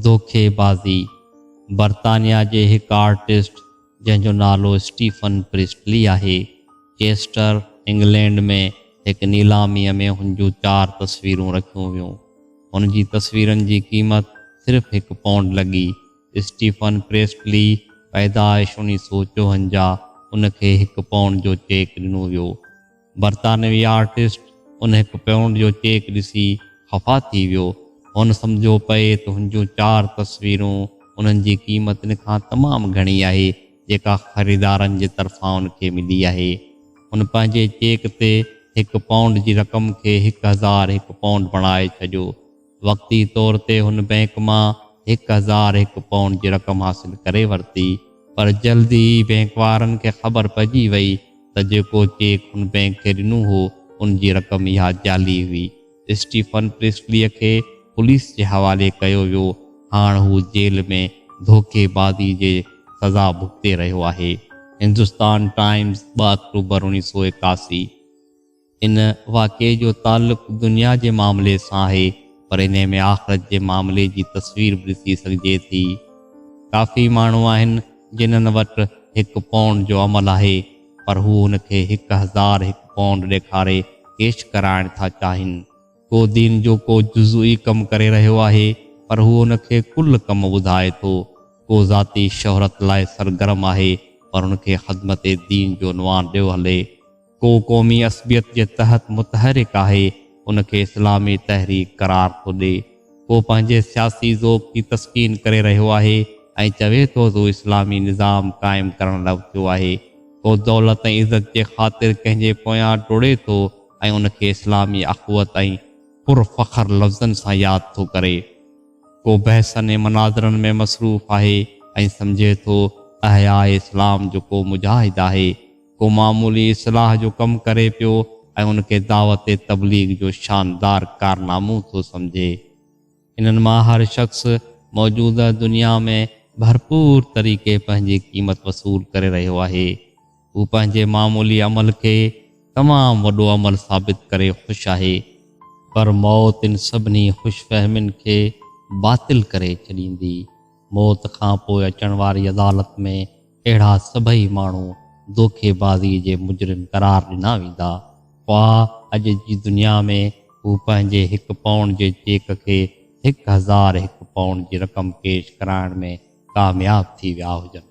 دوکي بازي، برطانيا جي هڪ آرٽسٽ جنهن جو نالو اسٽيفن پريسٽلي آهي، چيسٽر، انگلينڊ ۾ هڪ نيلاميء ۾ هن جون چار تصويرون رکيون ويون. هن جي تصويرن جي قيمت صرف هڪ پونڊ لڳي. اسٽيفن پريسٽلي، پيدائش انيس سؤ چوهنجاهه، ان کي هڪ پونڊ جو چيڪ ڏنو ويو. برطانوي آرٽسٽ ان هڪ پئونڊ جو چيڪ ڏسي خفا ٿي ويو. هن سمجهيو پئي ته هن جون چار تصويرون انهن جي قيمتن کان تمام گهڻي آهي، جيڪا خريدارن جي طرفان ان کي ملي آهي. هن پنهنجي چيڪ تي هڪ پئونڊ جي رقم کي هڪ هزار هڪ پئونڊ بڻائي ڇڏيو. وقتي طور تي هن بئنڪ مان هڪ هزار هڪ پائونڊ جي رقم حاصل ڪري ورتي، پر جلد ئي بئنڪ وارن کي خبر پئجي وئي ته جيڪو چيڪ هن بئنڪ کي ڏنو هو، ان جي رقم اها جعلي هئي. اسٽيفن پريسليء کي پوليس جي حوالي ڪيو ويو، هاڻ هو جيل ۾ ڌوڪي بازي جي سزا ڀڳتي رهيو آهي. هندستان ٽائيمز، ٻه آڪٽوبر اڻيهه سؤ ايڪاسي. ان واقعي جو تعلق دنيا جي معاملي سان آهي پر انهي ۾ آخرت جي معاملي جي تصوير به ڏسي سگهجي ٿي. ڪافي ماڻهو آهن جنهن وٽ هڪ پونڊ جو عمل آهي پر هو هن کي هڪ هزار هڪ پونڊ ڏيکاري ڪيش ڪرائڻ ٿا چاهين. ڪو دين جو ڪو جزوي ڪم ڪري رهيو آهي پر هو ان کي ڪل ڪم ٻڌائي ٿو. ڪو ذاتي شهرت لاء سرگرم آهي پر هن کي خدمت دين جو عنوان ڏيو هلي. ڪو قومي عصبيت جي تحت متحرڪ آهي، ان کي اسلامي تحريڪ قرار ٿو ڏي. ڪو پنهنجي سياسي ذوق جي تسڪين ڪري رهيو آهي ۽ چوي ٿو ته هو اسلامي نظام قائم ڪرڻ لاء اٿيو آهي. ڪو دولت ۽ عزت جي خاطر ڪنهن جي پويان ڊوڙي ٿو ۽ ان کي اسلامي اخوت ۽ پر فخر لفظن سان ياد ٿو ڪري. ڪو بحثن ۽ مناظرن ۾ مصروف آهي ۽ سمجهي ٿو احياء اسلام جو ڪو مجاهد آهي. ڪو معمولي اصلاح جو ڪم ڪري پيو ۽ ان کي دعوت تبليغ جو شاندار ڪارنامو ٿو سمجهي. انهن مان هر شخص موجوده دنيا ۾ ڀرپور طريقي پنهنجي قيمت وصول ڪري رهيو آهي. هو پنهنجي معمولي عمل کي تمام وڏو عمل ثابت ڪري خوش آهي. پر موت ان سڀني خوش فهمين کي باطل ڪري ڇڏيندي. موت کان پوء اچڻ واري عدالت ۾ اهڙا سڀئي ماڻهو دوکي بازي جي مجرم قرار ڏنا ويندا هئا. اڄ جي دنيا ۾ هو پنهنجي هڪ پائونڊ جي چيڪ کي هڪ هزار هڪ پائونڊ جي رقم ڪيش ڪرائڻ ۾ ڪامياب ٿي ويا هجن.